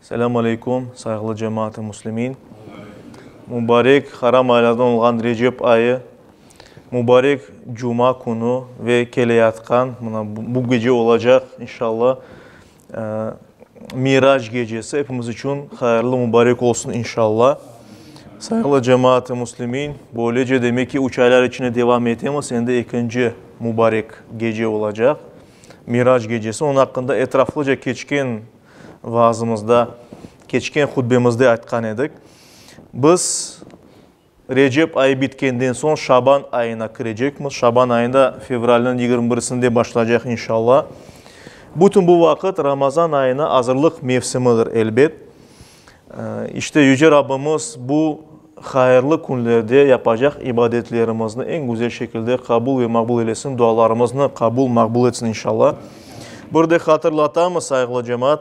Selâm aleyküm, sayğılı cemaat-ı muslimin! Mubarek haram aylardan olğan Recep ayı, mubarek cuma künü ve keleyatqan, mına bu gece olacaq, inşalla, Mirac gecesi epimiz içün hayırlı, mubarek olsun, inşalla! Sayğılı cemaat-ı muslimin, böylece, demek ki, üç aylar içinde devam etemiz, endi ekinci mubarek gece olacaq, Mirac gecesi. Onıñ aqqında etraflıca keçken. Vaazımızda, keçken hutbemizde aytqan edik, biz Recep ayı bitkenden soñ Şaban ayına kirecekmiz. Şaban ayında fevralniñ yigirmi birisinde başlaycaq, inşalla. Bütün bu vaqıt Ramazan ayına azırlıq mevsimidir, elbet. İşte, Yüce Rabbimiz bu hayırlı künlerde yapacaq ibadetlerimizni eñ güzel şekilde qabul ve maqbul eylesin, dualarımıznı qabul, maqbul etsin, inşalla. Bir de hatırlatamız, sayğılı cemaat,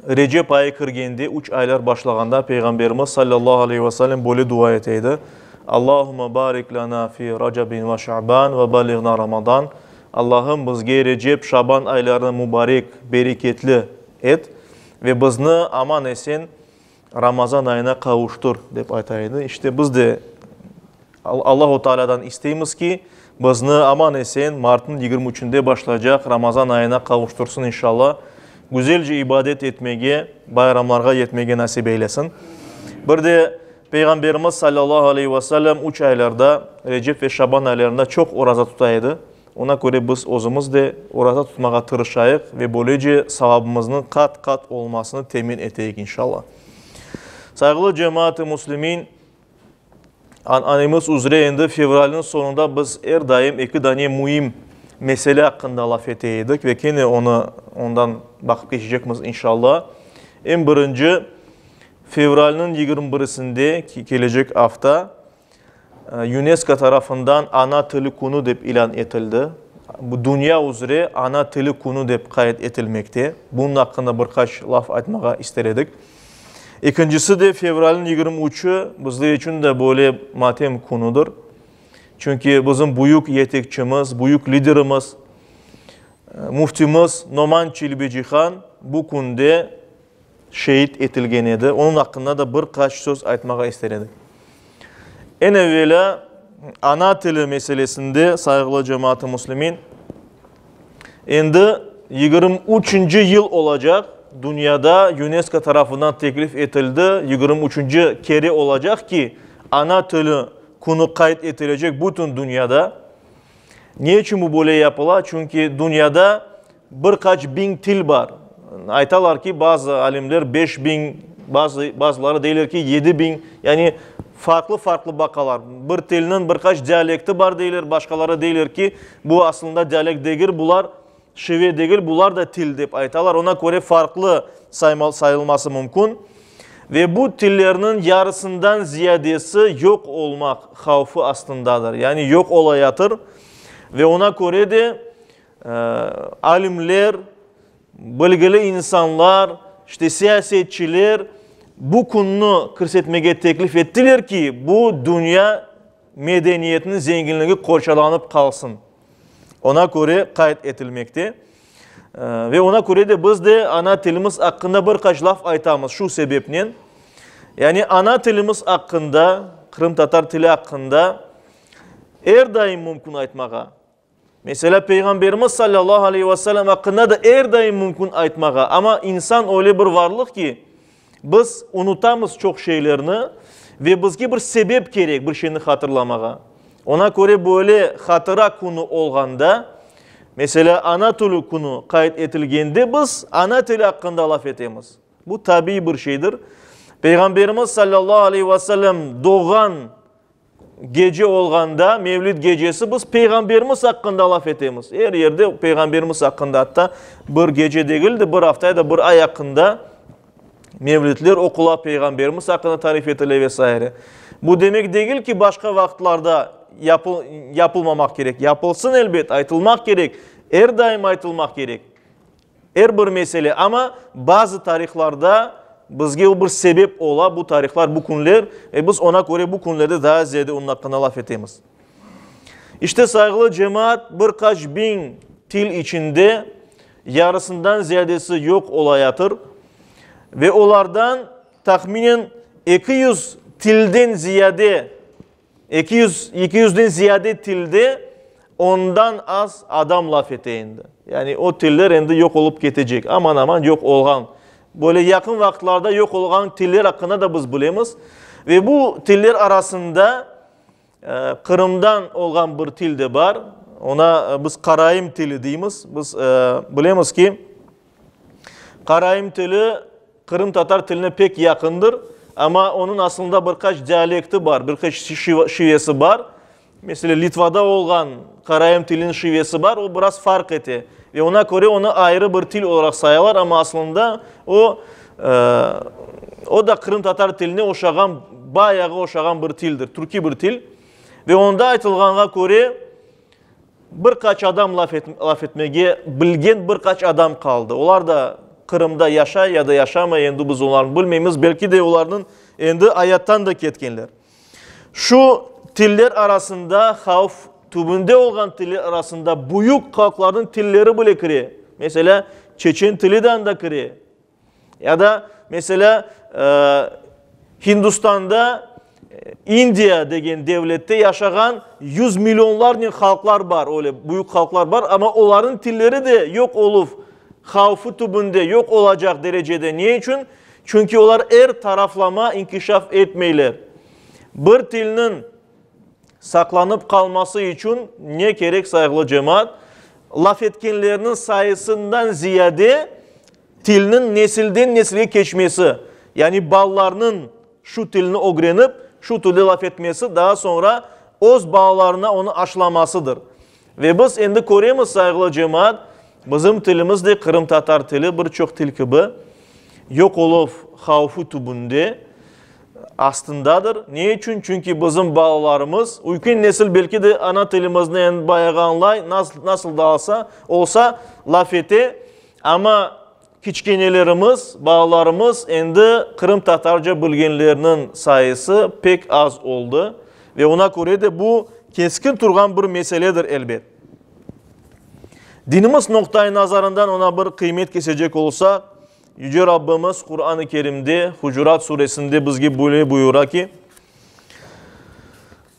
Recep ayı kirgende, üç aylar başlağanda Peyğamberimiz sallallahu aleyhi ve sellem böyle dua ete edi, Allahümme barik lena fi Recebin ve Şaban ve balliğna Ramadan, Allahım, bizge Recep, Şaban aylarını mübarek, bereketli et. Ve bizni aman-esen Ramazan ayına qavuştır, dep ayta edi. İşte, biz de Allahu Tealâdan isteymiz ki, bizni aman-esen martnıñ yigirmi üçünde başlaycaq Ramazan ayına qavuştırsın, inşallah. Güzelce ibadet etmege, bayramlarğa yetmege nasip eylesin. Bir de Peyğamberimiz sallallahu aleyhi ve sellem üç aylarda, Recep ve Şaban aylarında çoq oraza tuta edi. Oña köre biz özümiz de oraza tutmağa tırışayıq ve böylece savabımıznıñ qat-qat olmasını temin eteyik, inşalla. Sayğılı cemaat-ı müslimin, ananemiz üzre endi fevralniñ soñunda biz er daim eki dane müim mesele aqqında laf ete edik ve kene onı ondan baqıp keçecekmiz, inşalla. Eñ birinci, fevralniñ yigirmi birisinde, kelecek afta, UNESCO tarafından Ana tili künü dep ilân etildi. Bu dünya üzre Ana tili künü dep qayd etilmekte. Bunıñ aqqında bir qaç laf aytmağa ister edik. Ekincisi de, fevralniñ yigirmi üçü bizler içün de böyle matem künüdir. Çünki bizim büyük yetekçimiz, büyük liderimiz, Müftimiz Noman Çelebicihan bu künde, şeet etilgen edi, onıñ aqqında da bir qaç söz aytmağa ister edik. Eñ evelâ, ana tili meselesinde, sayğılı cemaat-ı muslimin, endi yigirmi üçünci yıl olacaq, dünyada UNESCO tarafından teklif etildi, yigirmi üçünci kere olacaq ki, ana tili künü qayd etilecek bütün dünyada. Ne içün bu böyle yapıla? Çünki dünyada Bir qaç biñ til bar. Aytalar ki, bazı alimler beş biñ, bazı, bazıları deyler ki, yedi biñ. Yani farqlı-farqlı baqalar. Bir tilniñ bir qaç dialekti bar deyler, başqaları deyler ki, bu asılında dialekt degil, bular şive degil, bular da til dep aytalar. Oña köre farqlı sayma, sayılması mümkün. Ve bu tillerniñ yarısından ziyadesi yoq olmaq havfı astındadır. Yani yoq olayatır. Ve oña köre de, Alimler, bilgili insanlar, işte siyasetçiler bu künni kirsetmege teklif ettiler ki, bu dünya medeniyetiniñ zenginligi qorçalanıp qalsın. Oña köre qayd etilmekte. Ve oña köre de biz de ana tilimiz aqqında bir qaç laf aytamız şu sebepnen. Yani ana tilimiz aqqında, qırımtatar tili aqqında er daim mümkün aytmağa. Meselâ, Peyğamberimiz salâllahu aleyhi ve sellem aqqında da er daim mümkün aytmağa, amma insan öyle bir varlıq ki, biz unutamız çoq şeylerni ve bizge bir sebep kerek bir şeyni hatırlamağa. Oña köre böyle hatıra künü olğanda, meselâ, ana tili künü qayd etilgende biz ana tili aqqında laf etemiz. Bu tabiiy bir şeydir. Peyğamberimiz salâllahu aleyhi ve sellem doğğan Gece olğanda, Mevlüt gecesi biz Peyğamberimiz aqqında laf etemiz. Er yerde Peyğamberimiz aqqında, atta bir gece degil de, bir afta ya da bir ay aqqında Mevlütler oqula, Peyğamberimiz aqqında tarif etile ve saire. Bu demek degil ki, başqa vaqıtlarda yapıl, yapılmamaq kerek. Yapılsın, elbet, aytılmaq kerek, er daim aytılmaq kerek. Er bir mesele, amma bazı tarihlarda bizge o bir sebep ola, bu tarihlar, bu künler, e biz ona köre bu künlerde daa ziyade onıñ aqqında laf etemiz. İşte, sayğılı cemaat, bir qaç biñ til içinde yarısından ziyadesi yoq olayatır ve olardan tahminen eki yüz tilden ziyade, Eki yüz, eki yüzden ziyade tilde ondan az adam laf ete endi. Yani o tiller endi yoq olıp ketecek, aman-aman yoq olğan. Böyle yaqın vaqıtlarda yoq olğan tiller aqqında da biz bilemiz. Ve bu tiller arasında Qırımdan olğan bir til de bar. Ona biz Qaraim tili deymiz. Biz bilemiz ki, Qaraim tili qırımtatar tiline pek yaqındır, amma onıñ asılında bir qaç dialekti bar, bir qaç şivesi bar. Mesele, Litvada olğan qaraim tiliniñ şivesi bar, o biraz farq ete. Ve oña köre onı ayrı bir til olaraq sayalar, amma asılında o, o da qırımtatar tiline oşağan, bayağı oşağan bir tildir, türkiy bir til. Ve onda aytılğanğa köre, Bir qaç adam laf laf etmege bilgen bir qaç adam qaldı. Olar da Qırımda yaşay ya da yaşamay, endi biz olarnı bilmeymiz. Belki de olarnıñ endi ayattan da ketkenler. Şu tiller arasında havf tübünde olğan tiller arasında büyük halqlarnıñ tilleri bile kire. Meselâ, çeçen tili de anda kire. Ya da, meselâ, Hindustanda, İndiya degen devlette yaşağan yüz millionlarnen halqlar bar, öyle büyük halqlar bar, amma olarnıñ tilleri de yoq oluv havfı tübünde, yoq olacaq derecede. Ne içün? Çünki olar er taraflama inkişaf etmeyler. Bir tilniñ Saqlanıp qalması içün ne kerek sayğılı cemaat? Laf etkenlerniñ sayısından ziyade tilniñ nesilden nesilge keçmesi, yani balalarnıñ şu tilni ögrenip, şu tilde laf etmesi, daa soñra öz balalarına onı aşılamasıdır. Ve biz endi köremiz, sayğılı cemaat, bizim tilimiz de qırımtatar tili bir çoq til kibi yoq oluv havfı tübünde, astındadır. Ne içün? Çünki bizim balalarımız, ülken nesil belki de ana tilimizni endi bayağı añlay, nasıl da olsa laf ete, amma Kiçkenelerimiz, balalarımız endi qırımtatarca bilgenlerniñ sayısı pek az oldı ve oña köre de bu keskin turğan bir meseledir, elbet. Dinimiz noqtaiy-nazarından oña bir qıymet kesecek olsaq, Yüce Rabbimiz Quran-ı Kerimde, Hucurat suresinde bizge böyle buyura ki,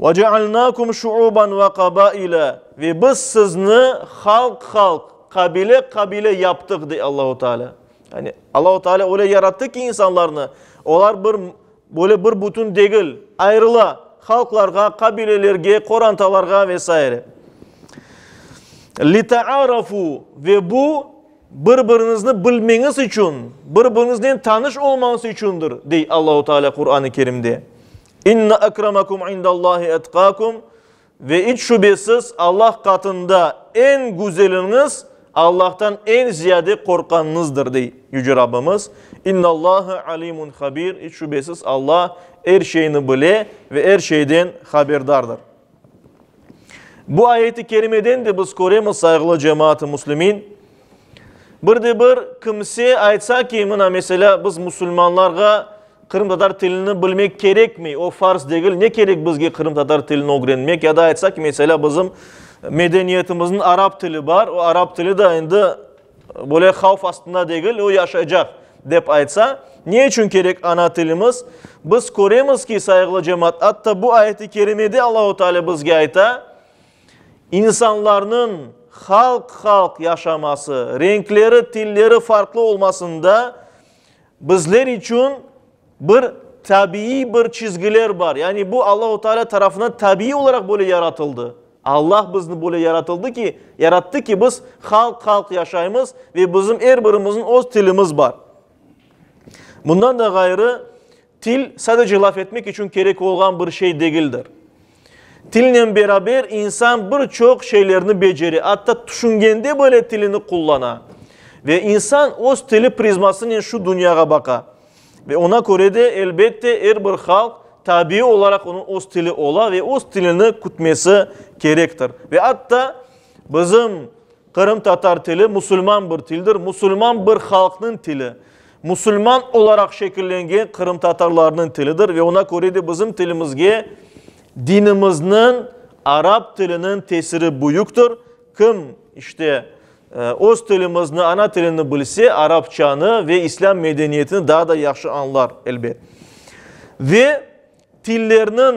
Ve cealnâkum şuuban ve qabaile, ve biz sizni halq-halq, qabile-qabile yaptıq, dey Allahu Teala. Yani Allahu Teala öyle yarattı ki insanlarnı, olar bir, böyle bir bütün degil, ayrıla, halqlarğa, qabilelerge, qorantalarğa ve saire. Litaarafu, ve bu bir-biriñizni bilmeñiz içün, bir-biriñiznen tanış olmañız içündir, dey Allahu Teala Quran-ı Kerimde. İnne ekremakum indallahi etkakum, Ve iç şübesiz, Allah qatında eñ güzeliñiz Allahtan eñ ziyade qorqqanıñızdır, dey Yüce Rabbimiz. İnnallâhe alimun habir, İç şübesiz, Allah er şeyni bile ve er şeyden haberdardır. Bu ayeti kerimeden de biz köremiz, sayğılı cemaat-ı müslimin, Bir de bir kimse aytsa ki, mına, meselâ, biz musulmanlarğa qırımtatar tilini bilmek kerekmey, o farz degil, ne kerek bizge qırımtatar tilini ögrenmek? Ya da aytsa ki, meselâ, bizim medeniyetimizniñ arap tili bar, o arap tili de endi böyle havf astında degil, o yaşaycaq, dep aytsa, ne içün kerek ana tilimiz? Biz köremiz ki, sayğılı cemaat, atta bu ayet-i kerimede Allahu Teala bizge ayta, İnsanlarnıñ halq-halq yaşaması, renkleri, tilleri farqlı olmasında bizler içün bir tabiiy bir çizgiler bar. Yani bu Allahu Teala tarafından tabiiy olaraq böyle yaratıldı. Allah bizni böyle yaratıldı ki, yarattı ki, biz halq-halq yaşaymız ve bizim er birimizniñ öz tilimiz bar. Bundan da ğayrı, Til, sadece laf etmek içün kerek olğan bir şey degildir. Tilnen beraber insan bir çoq şeylerni becere, atta tüşüngende bile tilini qullana. Ve insan öz tili prizmasınen şu dünyağa baqa. Ve ona köre de, elbette, er bir halq, tabiiy olaraq onıñ öz tili ola ve öz tilini kütmesi kerektir. Ve atta bizim Qırımtatar tili musulman bir tildir, musulman bir halqnıñ tili, musulman olaraq şekillengen qırımtatarlarnıñ tilidir ve oña köre de bizim tilimizge dinimizniñ, arap tiliniñ tesiri büyüktir. Kim, işte, öz tilimizni, ana tilini bilse, arapçanı ve islâm medeniyetini daa da yahşı añlar, elbet. Ve tillerniñ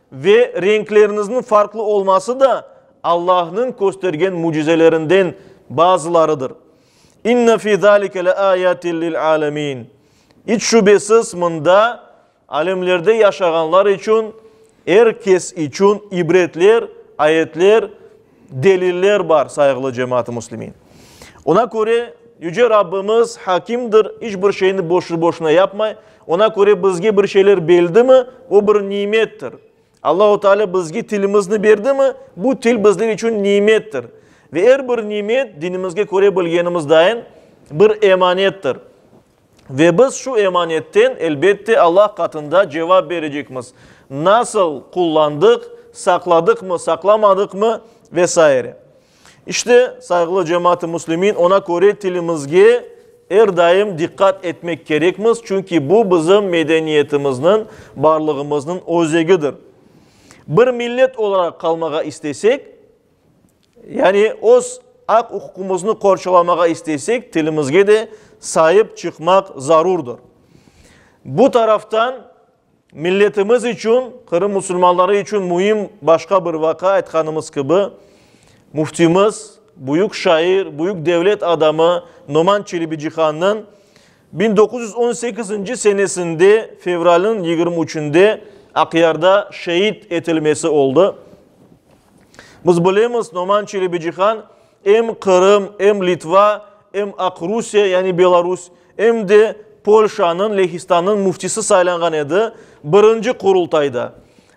Ve renklerinizniñ farqlı olması da Allahnıñ köstergen mücizelerinden bazılarıdır. İnne fi zâlike leâyatil lilâlemin. İç şübesiz, mında, alemlerde yaşağanlar içün, er kes içün ibretler, ayetler, Deliller bar, sayğılı cemaat-ı muslimin. Oña köre, Yüce Rabbimiz Hakimdir, iç bir şeyni boşu-boşuna yapmay. Oña köre bizge bir şeyler beldimi, o bir nimettir. Allahu Teala bizge tilimizni berdimi, bu til bizler içün nimettir. Ve er bir nimet, dinimizge köre bilgenimizdain, bir emanettir. Ve biz şu emanetten, elbette, Allah qatında cevap berecekmiz, nasıl qullandıq, saqladıqmı, saqlamadıqmı ve saire. İşte, sayğılı cemaat-ı muslimin, oña köre tilimizge er daim diqqat etmek kerekmiz, çünki bu bizim medeniyetimizniñ, barlığımıznıñ özegidir. Bir millet olaraq qalmağa istesek, Yani, öz aq-uquqımıznı qorçalamağa isteysek, tilimizge de saip çıqmaq zarurdır. Bu taraftan, milletimiz içün, Qırım musulmanları içün müim başqa bir vaqa, aytqanımız kibi, Müftimiz, büyük şair, büyük devlet adamı Noman Çelebicihannıñ biñ doquz yüz on sekizinci senesinde fevralniñ yigirmi üçünde Aqyarda şeid etilmesi oldı. Biz bilemiz, Noman Çelebicihan em Qırım, em Litva, em Aq Rusiye, yani Belarus, em de Polşanıñ Lehistannıñ müftisi saylanğan edi, birinci Qurultayda.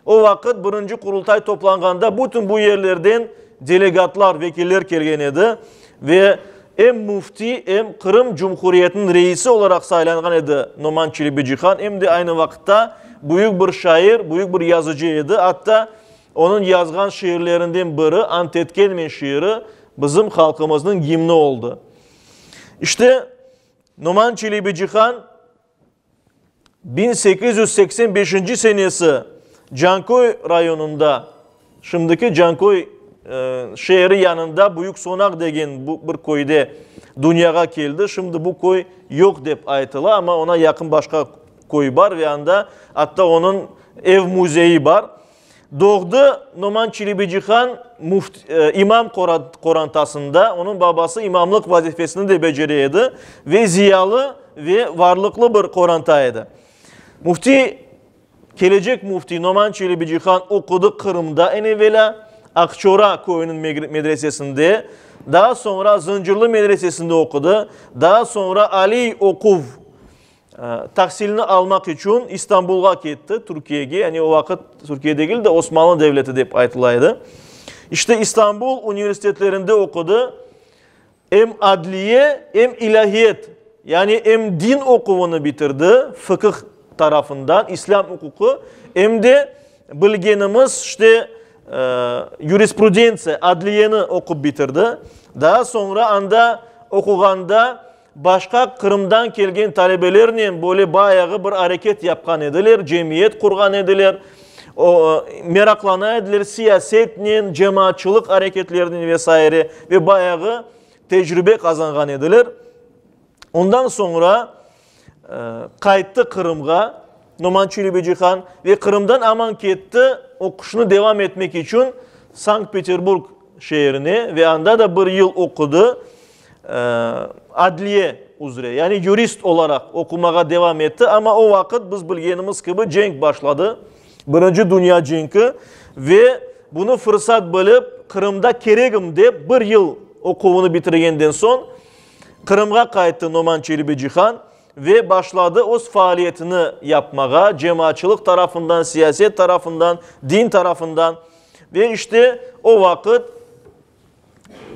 O vaqıt birinci Qurultay toplanğanda bütün bu yerlerden delegatlar, vekiller kelgen edi ve em müfti, em Qırım Cumhuriyetiniñ reisi olaraq saylanğan edi Noman Çelebicihan, em de aynı vaqıtta büyük bir şair, büyük bir yazıcı edi, atta Onıñ yazğan şiirlerinden biri Antetkelme şiiri bizim halqımıznıñ gimni oldı. İşte, Noman Çelebicihan biñ sekiz yüz seksen beşinci senesi Canköy rayonında, şimdiki Canköy şeeri yanında Büyük Sonaq degen bir köyde dünyağa keldi. Şimdi bu köy yoq dep aytıla, amma oña yaqın başqa köy bar ve anda atta onıñ ev-müzeyi bar. Doğdı Noman Çilibicihan muft, imam qorantasında, onıñ babası imamlıq vazifesini de becere edi ve ziyalı ve varlıqlı bir qoranta edi. Muftiy, kelecek muftiy Noman Çilibicihan oqudı Qırımda eñ evelâ Aqçora köyüniñ medresesinde, daa soñra Zıncırlı medresesinde oqudı, daa soñra aliy oquv Tahsilini almaq içün İstanbulğa ketti, Türkiyege, yani o vaqıt Türkiye degil de, Osmanlı devleti dep aytıla edi. İşte İstanbul universitetlerinde oqudı, em adliye, em ilâhiyet, yani em din oquvını bitirdi, fıkıh tarafından, İslâm uquqı, em de bilgenimiz işte yurisprudentsiya, adliyeni oqup bitirdi. Daa soñra anda oquğanda Başqa Qırımdan kelgen talebelernen böyle bayağı bir areket yapqan ediler, cemiyet qurğan ediler, meraqlana ediler siyasetnen, cemaatçılıq areketlerinen ve saire. Ve bayağı tecribe qazanğan ediler. Ondan soñra qayttı Qırımğa. Noman Çelebicihan ve Qırımdan aman ketti, oquşını devam etmek içün Sankt-Peterburg şeerine ve anda da bir yıl oqudı, adliye üzre, yani yurist olaraq oqumağa devam etti, amma o vaqıt biz bilgenimiz kibi cenk başladı, Birinci dünya cenki, ve bunı fırsat bilip Qırımda keregim dep bir yıl oquvını bitirgenden soñ Qırımğa qayttı Noman Çelebicihan. Ve başladı öz faaliyetini yapmağa, cemaatçılıq tarafından, siyaset tarafından, din tarafından. Ve işte o vaqıt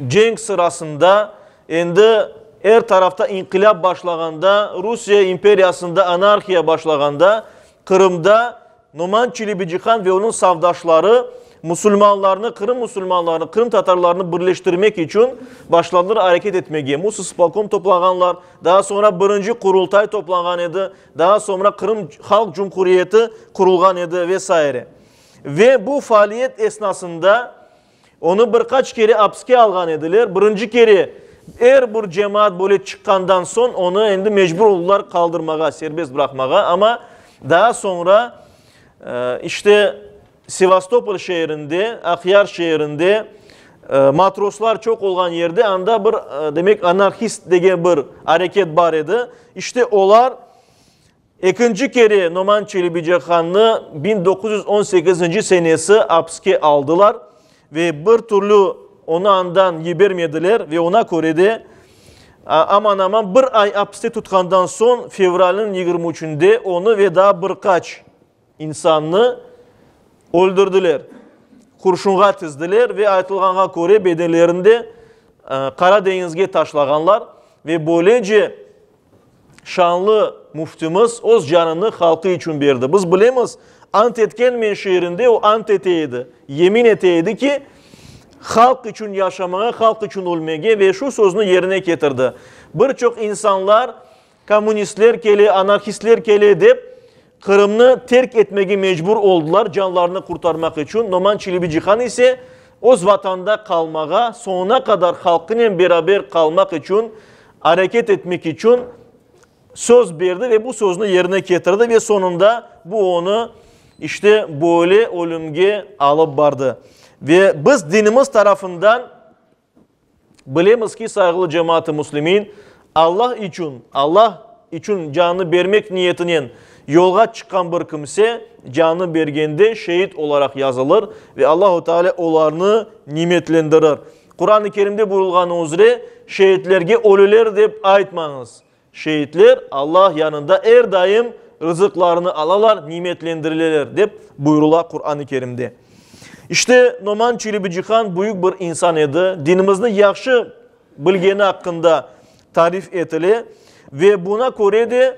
cenk sırasında, endi er tarafta inqilâp başlağanda, Rusiye imperiyasında anarhiya başlağanda, Qırımda Noman Çelebicihan ve onıñ safdaşları musulmanlarnı, Qırım musulmanlarını, Qırım tatarlarını birleştirmek içün başladılar areket etmege. Musa spolkom toplağanlar, daa soñra birinci Qurultay toplağan edi, daa soñra Qırım Halq Cumhuriyeti qurulğan edi ve saire. Ve bu faaliyet esnasında Onı bir qaç kere apiske alğan ediler. Birinci kere er bir cemaat böyle çıqqandan soñ onı endi mecbur oldılar qaldırmağa, serbest bıraqmağa. Amma daa soñra işte Sevastopol şeerinde, Aqyar şeerinde matroslar çoq olğan yerde anda bir demek anarhist degen bir areket bar edi. İşte olar Ekinci kere Noman Çelebicahannı biñ doquz yüz on sekizinci senesi apiske aldılar ve bir türlü onı andan yibermediler ve oña köre de, aman-aman bir ay apiste tutqandan soñ, fevralniñ yigirmi üçünde onı ve daa bir qaç İnsannı öldürdiler, qurşunğa tizdiler ve aytılğanğa köre bedenlerini de Qara deñizge taşlağanlar ve böylece şanlı Müftimiz öz canını halqı içün berdi. Biz bilemiz, ant etken men şiirinde o ant ete edi, yemin ete edi ki, halq içün yaşamağa, halq içün ölmege ve şu söznü yerine ketirdi. Bir çoq insanlar Kommunistler kele, anarhistler kele, dep Qırımnı terk etmege mecbur oldılar, canlarını qurtarmaq içün. Noman Çelebicihan ise öz Vatanında qalmağa, soñuna qadar halqınen beraber qalmaq içün, areket etmek içün söz berdi ve bu söznü yerine ketirdi ve soñunda bu onı işte böyle ölümge alıp bardı. Ve biz dinimiz tarafından Bilemiz ki, sayğılı cemaat-ı muslimin, Alla içün, Alla içün canını bermek niyetinen yolğa çıqqan bir kimse canını bergende şeid olaraq yazılır ve Allahu Teala olarnı nimetlendirir. Quran-ı Kerimde buyurılğanı üzre, Şeidlerge ölüler dep aytmañız, Şeitler Alla yanında er daim rızıqlarını alalar, nimetlendirileler, dep buyurıla Quran-ı Kerimde. İşte, Noman Çiribicihan büyük bir insan edi, dinimizni yahşı bilgeni aqqında tarif etile ve buna köre de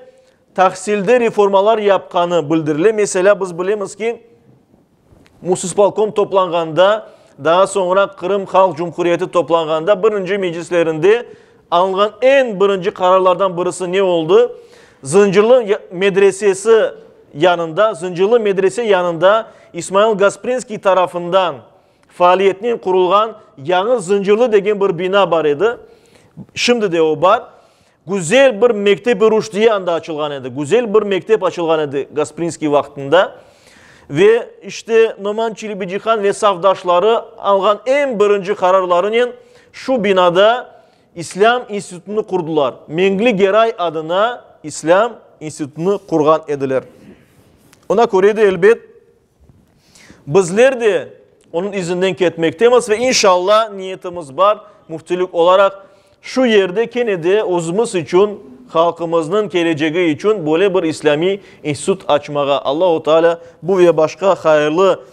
tahsilde reformalar yapqanı bildirile. Meselâ, biz bilemiz ki, Musispolkom toplanğanda, daa soñra Qırım Halq Cumhuriyeti toplanğanda birinci meclislerinde alınğan eñ birinci qararlardan birisi ne oldı? Zıncırlı medresesi yanında, Zıncırlı medrese yanında İsmail Gasprinskiy tarafından faaliyetnen qurulğan yañı Zıncırlı degen bir bina bar edi, şimdi de o bar. Güzel bir mektep-i rüşdiye anda açılğan edi, güzel bir mektep açılğan edi Gasprinskiy vaqtında. Ve işte Noman Çilibicihan ve safdaşları alğan eñ birinci qararlarınen şu binada İslâm institutını qurdılar, Mengli Geray adına İslâm institutını qurğan ediler. Ona köre de, elbet, Bizler de onıñ izinden ketmektemiz ve inşalla niyetimiz bar, müftilik olaraq şu yerde kene de özümiz içün, halqımıznıñ kelecegi içün böyle bir islâmiy institut açmağa. Allahu Teala bu ve başqa hayırlı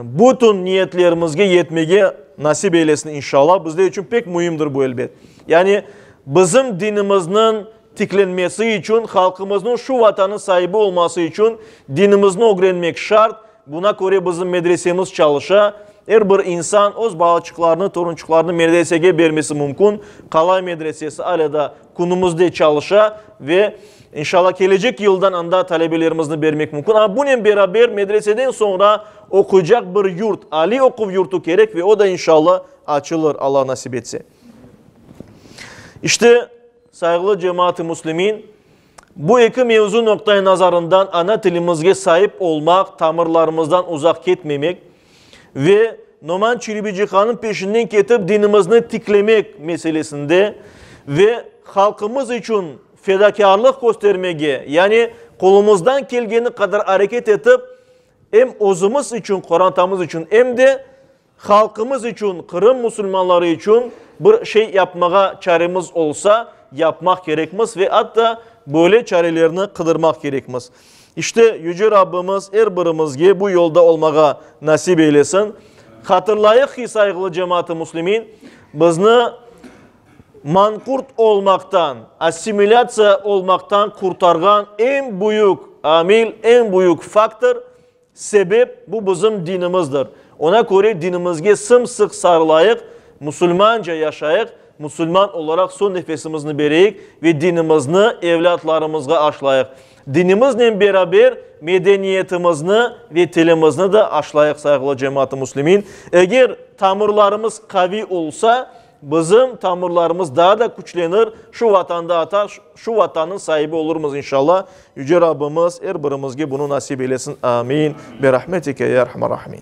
bütün niyetlerimizge yetmege nasip eylesin inşalla. Bizler içün pek müimdir bu, elbet. Yani bizim dinimizniñ tiklenmesi içün, halqımıznıñ şu Vatanı saibi olması içün dinimizni ögrenmek şart, buna köre bizim medresemiz çalışa, er bir insan öz balaçıqlarını, torunçıqlarını medresege bermesi mümkün, Qalay medresesi alâ da künümizde çalışa ve, inşalla, kelecek yıldan anda talebelerimizni bermek mümkün. Amma bunen beraber medreseden soñra oquycaq bir yurt, aliy oquv yurtu kerek ve o da, inşalla, açılır, Alla nasip etse. İşte, Sayıglı cemaat-ı muslimin, bu eki mevzu noqta-i nazarından ana tilimizge saip olmaq, tamırlarımızdan uzaq ketmemek ve Noman Çiribicihanıñ peşinden ketip dinimizni tiklemek meselesinde ve halqımız içün fedakârlıq köstermege, yani qolumızdan kelgeni qadar areket etip, em özümiz içün, qorantamız içün, em de Halqımız içün, Qırım musulmanları içün bir şey yapmağa çaremiz olsa, yapmaq kerekmiz ve atta böyle çarelerni qıdırmaq kerekmiz. İşte, Yüce Rabbimiz er birimizge bu yolda olmağa nasip eylesin. Hatırlayıq ki, sayğılı cemaat-ı muslimin, bizni manqurt olmaqtan, assimilâtsiya olmaqtan qurtarğan eñ büyük amil, eñ büyük faktor, Sebep, bu bizim dinimizdir. Oña köre dinimizge sım-sıq sarılayıq, musulmanca yaşayıq, musulman olaraq son nefesimizni bereyik ve dinimizni evlâtlarımızğa aşlayıq. Dinimiznen beraber medeniyetimizni ve tilimizni de aşlayıq, sayğılı cemaat-ı muslimin. Eger tamırlarımız qaviy olsa, Bizim tamırlarımız daa da küçlenir, şu Vatanda ata, şu Vatannıñ saibi olurmız inşalla. Yüce Rabbimiz er birimizge bunı nasip eylesin. Amin. Bi rahmetike ya erhamer rahimin.